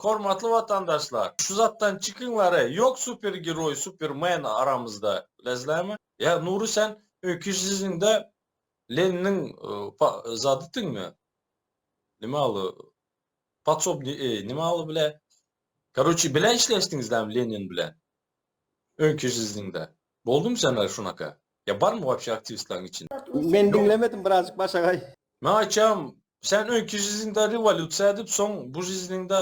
Hormatly watandaşlar şu zatdan çykyň ware yok super geroy super men aramyzda bilesizlermi ya nury sen öňki siziňde leniniň zady tiňmi nime aly podsobny e nime aly bile karoçi bile işleşdiňizlermi lenin bilen öňki siziňde Boldum janary şunaka. Ya barmy wapşe aktiwistlaň içinde. Men diňlemedim birazjyk başagaý. Men aýtýam sen öňki jiziňde rewolýusiýa edip soň bu jiziňde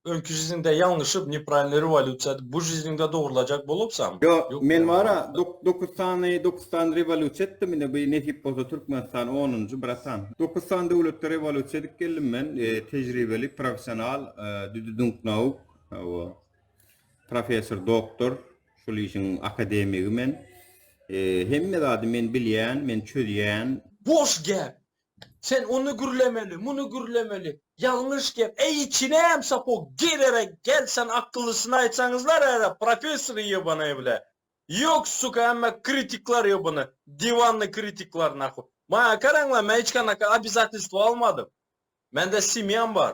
öňki jiziňde ýalňyşyp nepravilnoý rewolýusiýa edip bu jiziňde dogrylajak bolupsamy? Ýok men wara dokuz sany dokuz sany rewolýusiýa etdim ine bu nesip bolsa Türkmenistan onunjy bratan. Dokuz sany döwletde rewolýusiýa edip geldim men tejribeli professional düdüdüňk nauk hawa professor doktor. Şul işiň akademigi men. Hemme zady men bilýän, men çözýän. Boş gep. Sen ony gürlemeli, muny gürlemeli. Ýalňyş gep. Eý içineem sapog girere gel sen akyllysyny aýtsaňyzlar äre professor ýebanaý bile. Ýok suka hemme kritikler ýebany diwanny kritikler nahuý. Maňa garaňla men hiç ganaka obizatelstwo almadym. Mende semýam bar.